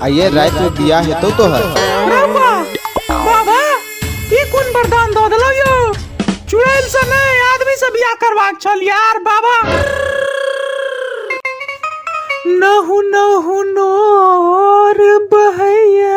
आइए रात में बिया हेतौ तो है बाबा बाबा ई कोन वरदान दऽ देलौ यौ चुड़ैल से नहि आदमी से बियाह करबाक छल यार बाबा नहु नहु नोर बहैया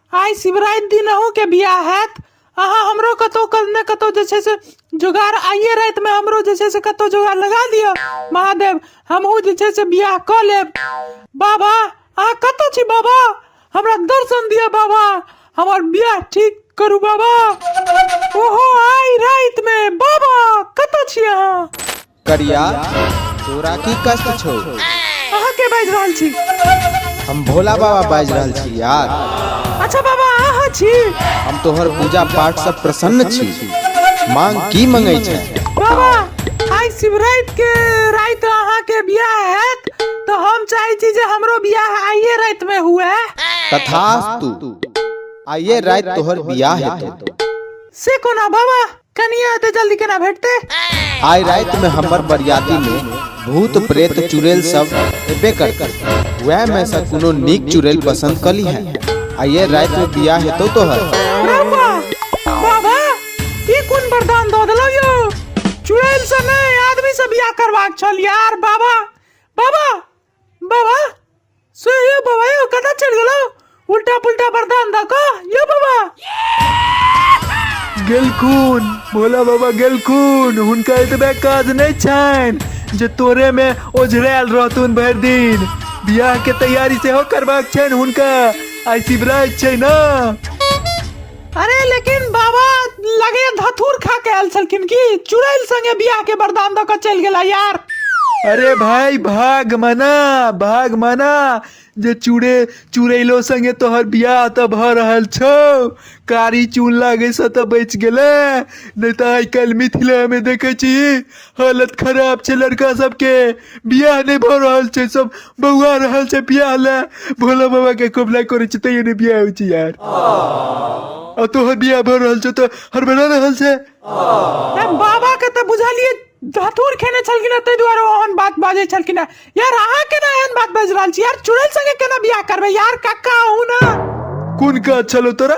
आइ शिवराति दिन अहूँके बियाह हैत अहाँ हमरो कतहु क- ने कतहु जे छै से जोगाड़ आइए रातिमे हमरो जे छै से कतहु जोगाड़ लगा दिअ महादेव हमहूँ जे छै से बियाह कऽ लेब बाबा अहाँ कतऽ छी बाबा हमरा दर्शन दिअ बाबा हमर बियाह ठीक करू बाबा ओहो आइ रातिमे बाबा कतऽ छी अहाँ करिया तोरा की कष्ट छौ अहाँ के बाजि रहल छी हम भोला बाबा बाजि रहल छी यार अच्छा बाबा अहाँ छी हम तोहर पूजा पाठ से प्रसन्न छी मांग की मंगै छै बाबा आइ शिवरात के रात अहाँ के बियाह हैत तो हम चाहे छी जे हमरो बियाह आइए रात में हुए तथास्तु आइए रात तोहर बियाह हेतौ से कोना बाबा कनिया एते जल्दी केना भेटते आइ राति में हमर बरियाती में भूत प्रेत चुड़ैल सब एबे करते वह में से कोनो नीक चुड़ैल पसंद कली है आ ये राति में बियाह हेतौ तो है बाबा बाबा ई कोन वरदान दऽ देलौ यौ चुड़ैल से नै आदमी से बियाह करबाक छल यार बाबा बाबा बाबा सो यो बाबा यो कता चल गेलो उल्टा पुल्टा बर्दान द को यो बाबा गेलखुन भोला बाबा गेलखुन हुनका एतबे काज नहि छनि जे तोरे मे ओझरायल रहथुन भरि दिन बियाह के तैयारी सेहो करबाक छनि हुनका आइ शिवराज छै ने अरे लेकिन बाबा लगे धतूर खा के आयल छलखिन की चुड़ैल संगे बियाह के वरदान दऽ के चलि गेला यार अरे भाई भाग मना भाग मना जे चूड़े चुड़ैलो संगे तोहर बियाह तऽ भऽ रहल छौ कारी चून लागैसँ तऽ बचि गेलै नहि तऽ आइ काल्हि मिथिलामे देखै छी हालत खराब छै लड़का सबके बियाह नहि भऽ रहल छै सब बौआ रहल छै बियाह ले भोला बाबा के कबला करे छै तैयो नहि बियाह होइ छै यार आ तोहर बियाह भऽ रहल छै तऽ हड़बड़ा रहल छै ए, बाबा के तऽ बुझलियै धतूर खेने छलखिन हँ, ताहि दुआरे ओहन बात बाजै छलखिन हँ। यार अहाँ केना एहन बात बाजि रहल छी यार चुड़ैल संगे केना बियाह करबै यार कक्का अहू ना कोन काज छलो तोरा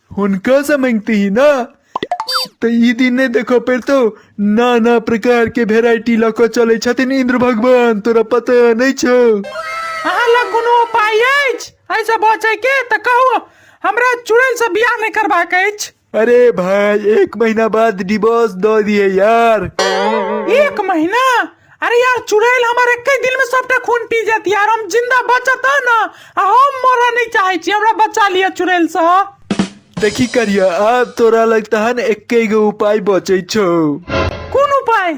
हुनका से मांगते ही ना तो ई दिन नहीं देखो पर तो नाना प्रकार के वेराइटी लको चले छथिन इंद्र भगवान तोरा पता नहीं छो अहाँ लग कोनो उपाय अछि ऐसे बचे के तऽ कहू हमरा चुड़ैल से बियाह नहि करबाक अछि अरे भाई एक महीना बाद डिवोर्स दो दिए यार एक महीना अरे यार चुड़ैल हमर एके दिल में सबटा खून पी जाती यार हम जिंदा बचत है ना आ हम मरऽ नहीं चाहे छी हमरा बचा लिया चुड़ैल से देखी करिया आब तोरा लग तहन एके गो उपाय बचे छौ कोन उपाय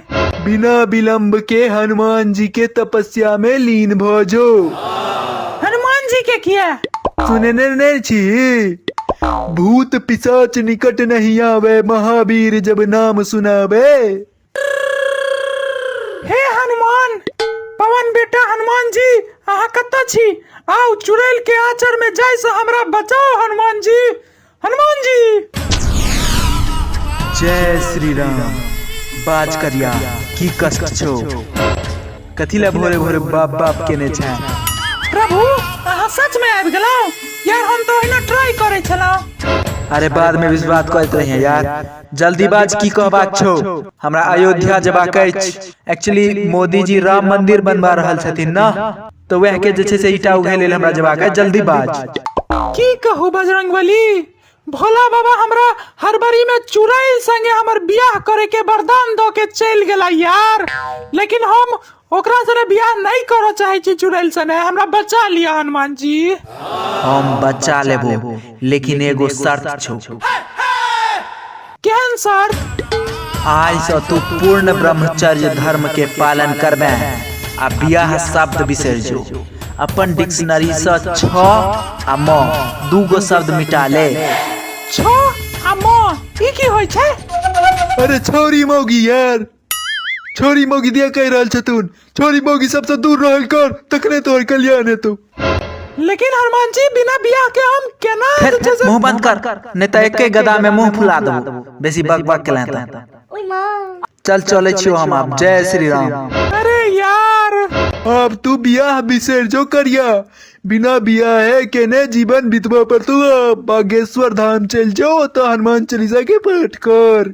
बिना विलंब के हनुमान जी के तपस्या में लीन भ जो हनुमान जी के किया सुने ने ने छी भूत पिशाच निकट नहीं आवे महावीर जब नाम सुनावे हे हनुमान पवन बेटा हनुमान जी अहाँ कतऽ छी आउ चुड़ैल के आचर में जाय से हमरा बचाओ हनुमान जी हनुमान जी जय श्री राम बाज करिया की कष्ट छौ कथी लए भोरे भोरे बाप बाप केने छै प्रभु अहाँ सच में आबि गेलहुँ यार हम तो ओहिना ट्राई करे छलहुँ अरे बाद में विश्वास करैत रहिए यार जल्दी बाज की कहबाक छौ हमरा अयोध्या जेबाक अछि एक्चुअली मोदीजी राम मंदिर बनवा रहल छथिन ना तो वह के जे छै से ईटा उघे लेल हमरा जेबाक अछि जल्दी बाज की कहू बजरंगबली भोला बाबा हमरा हरबरी में चुड़ैल संगे हमर बियाह करे के वरदान दो के चल गेला यार लेकिन हम ओकरा सने बियाह नहीं करऽ चाहे छी चुड़ैल सने हमरा बचा लिया हनुमान जी हम बच्चा लेबो लेकिन एगो शर्त छौ केहन सर आइ से तू पूर्ण ब्रह्मचर्य धर्म के पालन करबे आ बियाह शब्द बिसर जो अपन डिक्शनरी से छ आ म दू गो शब्द मिटा ले छो आ मो ई की होइ छै अरे छोरी मौगी यार छोरी मौगी दिया कहि रहल छथुन छोरी मौगी सबसँ दूर रहल कर तखने तोहर कल्याण हेतौ लेकिन हनुमान जी बिना बियाह के हम केना फेर जे छै मुंह से- बंद कर नहीं तो एके गदा में मुंह फुला देबो बेसी बक बक केला त ओय माँ चल चले छियो हम आब जय श्री राम अरे यार अब तू बियाह बिसर जो करिया बिना बियाह है केने जीवन बितबा पर तू अब बागेश्वर धाम चल जाओ तो हनुमान चालीसा के पाठ कर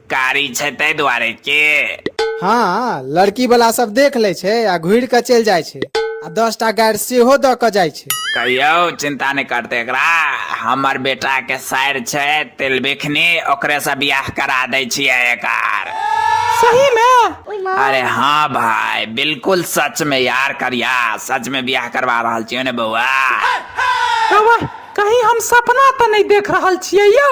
कारी छै ताहि दुआरे के हाँ लड़की वाला सब देख ले छै आ घुर के चल जाय छै आ दस टा गाड़ सेहो द के जाय छै कहियो चिंता नहीं करते एकरा हमर बेटा के साइर छै तिलबिखनी ओकरे से बियाह करा दै छियै एकर सही में अरे हाँ भाई बिल्कुल सच में यार करिया सच में बियाह करवा रहल छियै ने बौआ कहीं हम सपना तो नहीं देख रहल छियै यौ